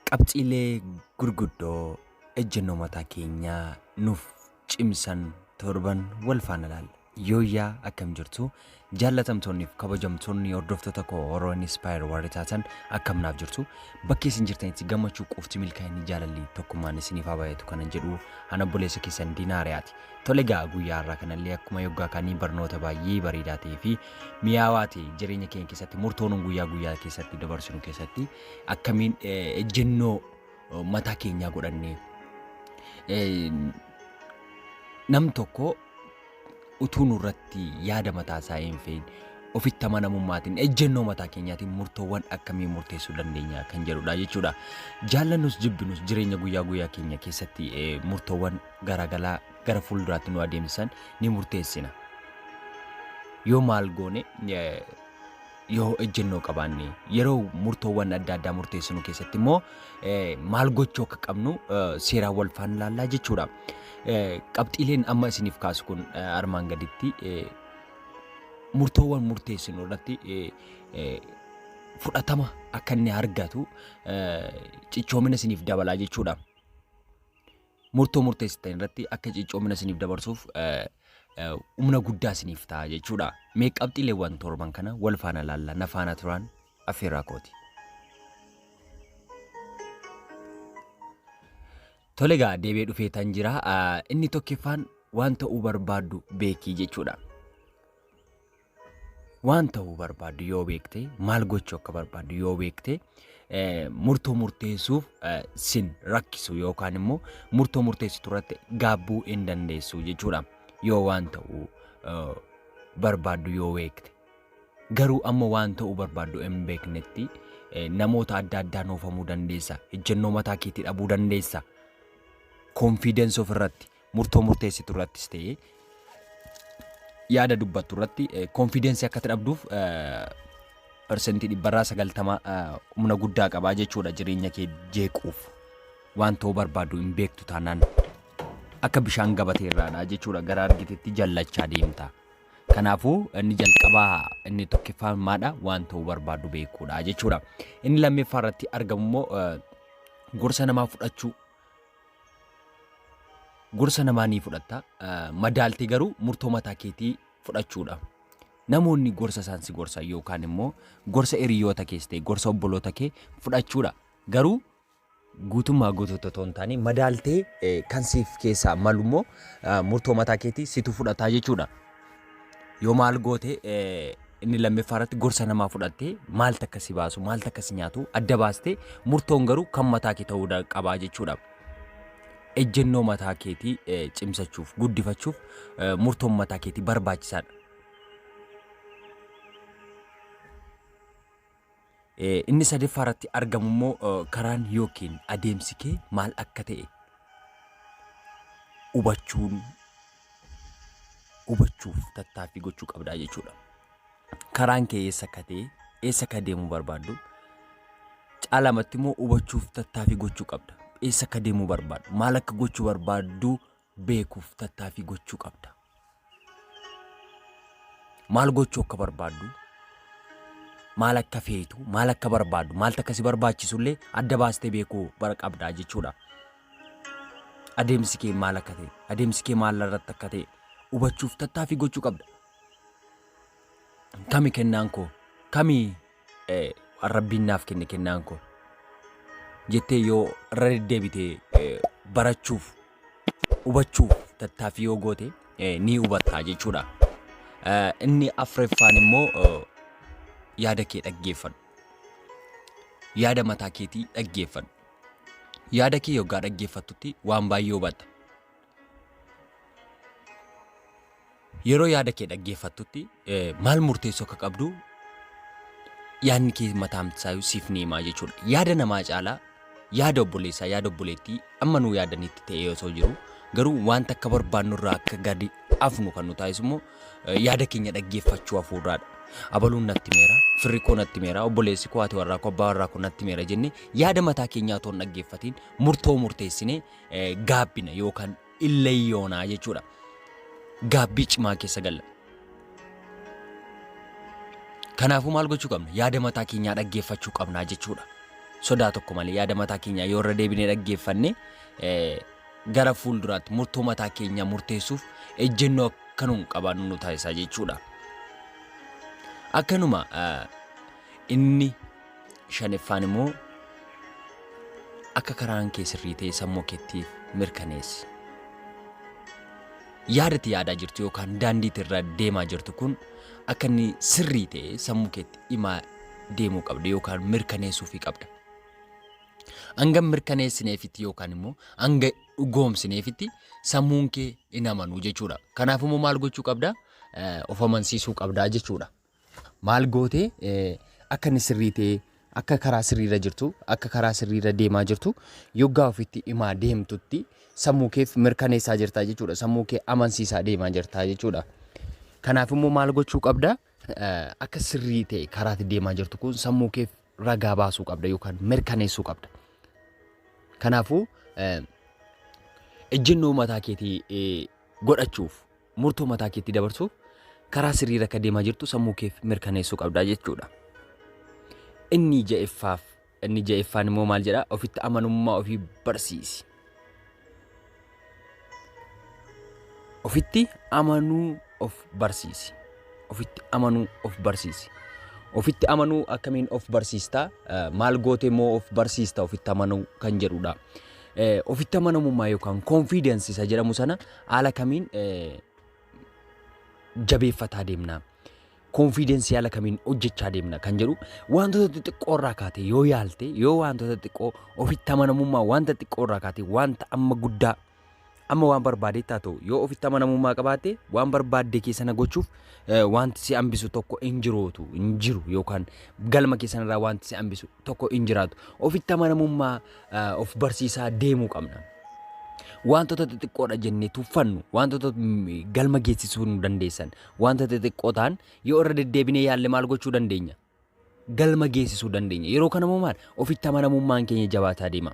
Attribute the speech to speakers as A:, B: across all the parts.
A: Qabxiilee gurguddoo ejjennoo mataa keenyaa nuuf cimsan torban wal faana ilaalla. Yooyyaa akkam jirtu jaallatamtoonniif kabajamtoonni hordoftoota koo Oro Inspire warri taatan akkam naaf jirtu bakki isin jirtanitti gammachuu qofti milkaa'inni jaalalli tokkummaan isiniif haa baay'atu kanan jedhu ana obboleessa keessan Diinaariyaati. Tole egaa guyyaa har'aa kanallee akkuma yoggaa kaanii barnoota baay'ee bareedaa ta'ee fi mi'aawaa ta'e jireenya keenya keessatti murtoo nuun guyyaa guyyaa keessatti dabarsinu keessatti akkamiin eh, ejjennoo eh, mataa keenyaa godhannee eh, nam tokko utuu nurratti yaada mataa isaa hin fe'in ofitti amanamummaatiin ejjennoo mataa keenyaatiin murtoowwan akkamii murteessuu dandeenya kan jedhudha jechuudha. Jaallannus jibbinus jireenya guyyaa guyyaa keenya keessatti eh, murtoowwan garagalaa gara fuulduraatti nu adeemsisan ni murteessina. Yoo maal goone yoo ejjennoo qabaanne yeroo murtoowwan adda addaa murteessinu keessatti immoo maal gochuu akka qabnu seeraan wal faana ilaallaa jechuudha. Qabxiileen amma isiniif kaasu kun armaan gaditti murtoowwan murteessinu irratti fudhatama akka inni argatu cichoomina isiniif dabalaa jechuudha. murtoo murteessitan irratti akka cichoomina isiniif dabarsuuf humna guddaa isiniif ta'a jechuudha. Mee qabxiileewwan torban kana wal faana laalla na faana turaan affeerraa kooti. Tole egaa deebi'ee dhufee tan jira. Inni tokkiffaan waan ta'uu barbaaddu beekii jechuudha. Waan ta'uu barbaaddu yoo beekte, maal gochuu akka barbaaddu yoo beekte, eh, murtoo murteessuuf eh, sin rakkisu yookaan immoo murtoo murteessitu irratti gaabbuu hin dandeessu jechuudha. Yoo waan ta'uu eh, barbaaddu yoo beekte. Garuu amma waan ta'uu barbaaddu hin beeknetti eh, namoota adda addaa noofamuu dandeessa. Ejjennoo mataa keetii dhabuu dandeessa. Confidence of irratti murtoo murteessitu irrattis ta'ee yaada dubbattu irratti konfiidensii akka dhabduuf parsantii dhibbarraa sagaltama humna guddaa qabaa jechuudha jireenya kee jeequuf waan ta'uu barbaadu hin beektu taanaan akka bishaan gabatee irraadha jechuudha gara argitetti jallachaa deemta. Kanaafuu inni jalqabaa inni tokkoffaan maadha waan ta'uu barbaadu beekuudha jechuudha. Inni lammeeffaa irratti argamu immoo gorsa namaa fudhachuu Gorsa namaa ni fudhatta, madaaltee garuu murtoo mataa keetii fudhachuudha. Namoonni gorsa isaan si gorsan yookaan immoo gorsa hiriyoota kees ta'e gorsa obboloota kee fudhachuudha. Garuu guutummaa guutuutti otoo hin taane madaaltee kan siif keessaa malu immoo murtoo mataa keetii situ fudhataa jechuudha. Yoo maal goote inni lammaffaa irratti gorsa namaa fudhattee maal takka si baasu maal takka si nyaatu adda baastee murtoon garuu kan mataa kee ta'uu da- qabaa jechuudha. Ejjennoo mataa keetii eh, cimsachuuf guddifachuuf eh, murtoon mataa keetii barbaachisaadha. Inni sadeeffaa irratti argamu immoo karaan yookiin adeemsi kee maal akka ta'e hubachuun hubachuuf tattaaffii gochuu qabdaa jechuudha. Karaan kee eessa akka ta'e eessa akka deemuu barbaaddu caalamatti immoo hubachuuf tattaaffii gochuu qabda. Eessa akka deemuu barbaaddu maal akka gochuu barbaaddu beekuuf tattaaffii gochuu qabda. Maal gochuu akka barbaaddu, maal akka feetu, maal akka barbaaddu, maaltu akka si barbaachisullee adda baastee beekuu bara qabdaa jechuudha. Adeemsi kee maal akka ta'e, adeemsi kee maal irratti akka ta'e hubachuuf tattaaffii gochuu qabda. Kami kennaan koo, kami waan rabbiin naaf kenne kennaan koo jettee yoo irra deddeebitee barachuuf hubachuuf tattaaffii yoo goote ni hubatta jechuudha. Inni afreeffaan immoo yaada kee dhaggeeffadhu. Yaada mataa keetii dhaggeeffadhu. Yaada kee yoggaa dhaggeeffattutti waan baay'ee hubatta. Yeroo yaada kee dhaggeeffattutti maal murteessuu akka qabdu yaadni kee mataamsaayyuu siif ni himaa jechuudha. Yaada namaa caalaa yaada obboleessaa yaada obboleettii amma nuu yaadanitti ta'ee osoo jiru garuu wanta akka barbaannu irraa akka gadi afnu kan nu taasisu immoo yaada keenya dhaggeeffachuu hafuurraadha. Abaluun natti meera, firri koo natti meera, obboleessi koo, haati warraa koo, abbaa warraa koo natti meera jennee yaada mataa keenyaa otoo hin dhaggeeffatiin murtoo murteessinee eh, gaabbina yookaan illayyoonaa jechuudha. Gaabbii cimaa keessa galla. Kanaafuu maal gochuu qabna? Yaada mataa keenyaa dhaggeeffachuu qabnaa jechuudha. Sodaa tokko malee yaada mataa keenyaa yoo irra deebinee dhaggeeffanne eh, gara fuulduraatti murtoo mataa keenyaa murteessuuf ejjennoo akka nuun qabaannu nu taasisaa jechuudha. Akkanuma eh, inni Shaniffaan immoo akka karaan kee sirrii ta'e sammuu keettiif mirkaneessi. Yaadatti yaadaa jirtu yookaan daandiitti irra deemaa jirtu kun akka inni sirrii ta'e sammuu keetti himaa deemuu qabda yookaan mirkaneessuufii qabda. Hanga mirkaneessineefitti yookaan immoo hanga dhugoomsineefitti sammuun kee hin amanu jechuudha. Kanaaf immoo maal gochuu qabda? Of amansiisuu qabda jechuudha. Maal goote akka inni sirrii ta'ee akka karaa sirriirra jirtu akka karaa sirriirra deemaa jirtu yoggaa ofitti himaa deemtutti sammuu keef mirkaneessaa jirtaa jechuudha. Sammuu kee amansiisaa deemaa jirtaa jechuudha. Kanaaf immoo maal gochuu qabda? Akka sirrii ta'e karaatti deemaa jirtu kun sammuu keef ragaa baasuu qabda yookaan mirkaneessuu qabda. Kanaafuu ejjennoo mataa keetii godhachuuf Murtoo mataa keetti dabarsuuf karaa sirriirra akka deemaa jirtu sammuu keef mirkaneessuu qabda jechuudha. Inni ja'effaaf inni ja'effaan immoo maal jedha ofitti amanummaa ofii barsiisi. Ofitti amanuu of barsiisi. Ofitti amanuu of barsiisi. Ofitti amanuu akkamiin of barsiista maal gootee immoo of barsiista ofitti amanuu kan jedhudha. Ofitti amanamummaa yookaan confidence isa jedhamu sana Haala kamiin jabeeffataa deemna? Konfiidensii haala kamiin hojjechaa deemna kan jedhu wantoota xixiqqoo irraa kaatee yoo yaalte yoo wantoota xixiqqoo ofitti amanamummaa wanta xiqqoo irraa kaatee wanta amma guddaa amma waan barbaadeetti haa ta'u yoo ofitti amanamummaa qabaatte waan barbaadde kee sana gochuuf eh, wanti si hambisu tokko hin jirootu hin jiru yookaan galma kee sanarraa wanti si hambisu tokko hin jiraatu. Ofitti amanamummaa of barsiisaa deemuu qabna. Wantoota xixiqqoodha jennee tuffannu, wantoota galma geessisuu nu dandeessan, wantoota xixiqqoo ta'an yoo irra deddeebinee yaalle maal gochuu dandeenya? Galma geessisuu dandeenya. Yeroo kana immoo maal? Ofitti amanamummaan keenya jabaataa deema.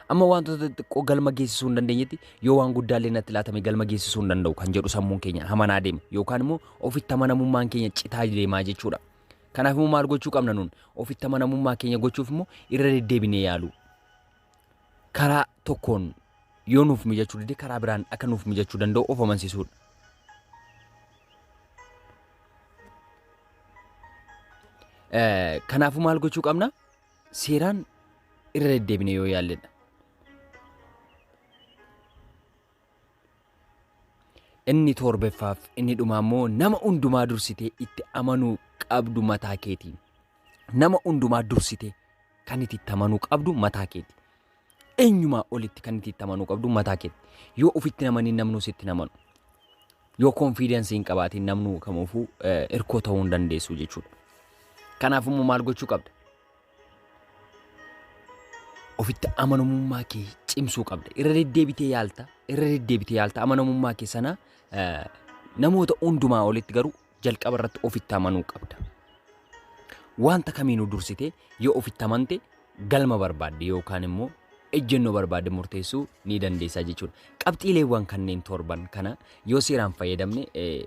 A: Amma wantoota xixiqqoo galma geessisuu hin dandeenyetti yoo waan guddaallee natti laatame galma geessisuu hin danda'u kan jedhu sammuun keenya hamanaa deema. Yookaan immoo ofitti amanamummaan keenya citaa deemaa jechuudha. Kanaaf immoo maal gochuu qabna nuun? Ofitti amanamummaa keenya gochuuf immoo irra deddeebinee yaaluu. Karaa tokkoon yoo nuuf mijachuu dide karaa biraan akka nuuf mijachuu danda'u of amansiisuudha. Kanaafuu maal gochuu qabna? Seeraan irra deddeebinee yoo yaalledha. Inni toorbeffaaf inni dhumaa immoo nama hundumaa dursitee itti amanuu qabdu mataa keetiin. Nama hundumaa dursitee kan itti itti amanuu qabdu mataa keeti. Eenyumaa olitti kan itti itti amanuu qabdu mataa keeti. Yoo ofitti namanii namnuu sitti namanu. Yoo konfiidensii hin qabaatiin namnuu kamuufuu hirkoo ta'uu hin dandeessu jechuudha. Kanaaf immoo maal gochuu qabda? Ofitti amanamummaa kee cimsuu qabda. Irra deddeebitee yaalta. Irra deddeebitee yaalta. Amanamummaa kee sana eh, namoota hundumaa olitti garuu jalqaba irratti ofitti amanuu qabda. Wanta kamiinuu dursitee yoo ofitti amante galma barbaadde yookaan immoo ejjennoo barbaadde murteessuu ni dandeessaa jechuudha. Qabxiileewwan kanneen torban kana yoo seeraan fayyadamne eh,